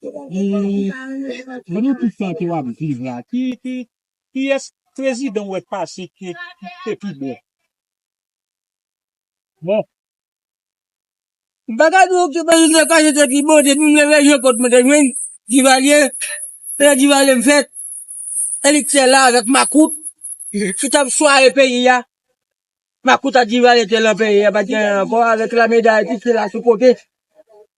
Mwen menm tout sa ke wap viv la ki kiyès prezidan ou wè k pase ki te pi bon. Bon. M pa ka di w ki prezidan ki pase te pi bon depi mwen rejwen kot mwen te jwenn Divalye se lè Divalye m fèt e li t chè la avèk makout ki tap swaye peyi a makout ak Divalye te lan peyi a pat gen anyen ankò avèk lame dayiti ki te la sou kote.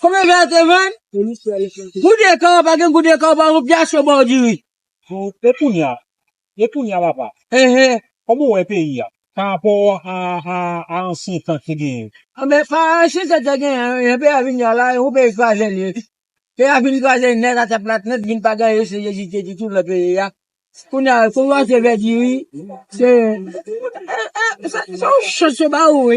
Konbyen vè a te vann? Gout de kò pa gen gout de kò pa gen pyas yo baw diri. E kounya, e kounya papa. Enhen. Kòman ou wè peyi a pa rapò a ansyen tan ki te genyen? Anben pa a ansyen tan ki te genyen jan peyi a vin ye a la, yon peyi kraze li ye. Peyi a fin kraze nèt atè plat nèt vin pa gen anyen se jezi te di tou nan peyi a. Kounya fò ou achte vè diri se yon chans yo ba ou wi.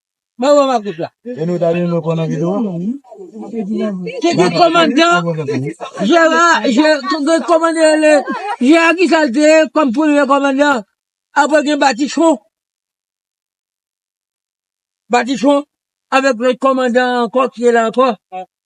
Mwen wè makout la. E nou ta renmen konnen video a. Ki ki komandan Jera, Jera komandan ele, Jera ki sal te ye kom premye komandan. Apre gen Batichon. Batichon avek lot komandan anko ki te la anko.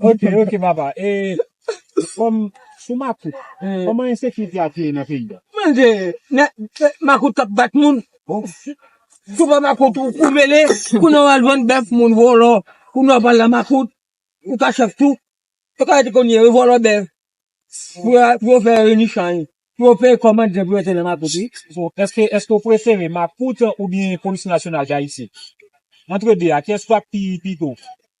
Ok ok papa e kòm sou makout kòman ensekirite ap ye nan peyi a. Mwen di nèg makout kap bat moun sou pa makout ou mele kounya ou al vann bèf moun vòlò kounya wap al nan makout ou ka chèf tou yo ka rete kounye yo vòlò bèf pou yo fè reni chay pou yo peye kòb madijan pou yo rete nan makout wi. Bon eske eske ou prefere makout oubyen polis nasyonal dayiti antre 2 a kyès wap pi pito.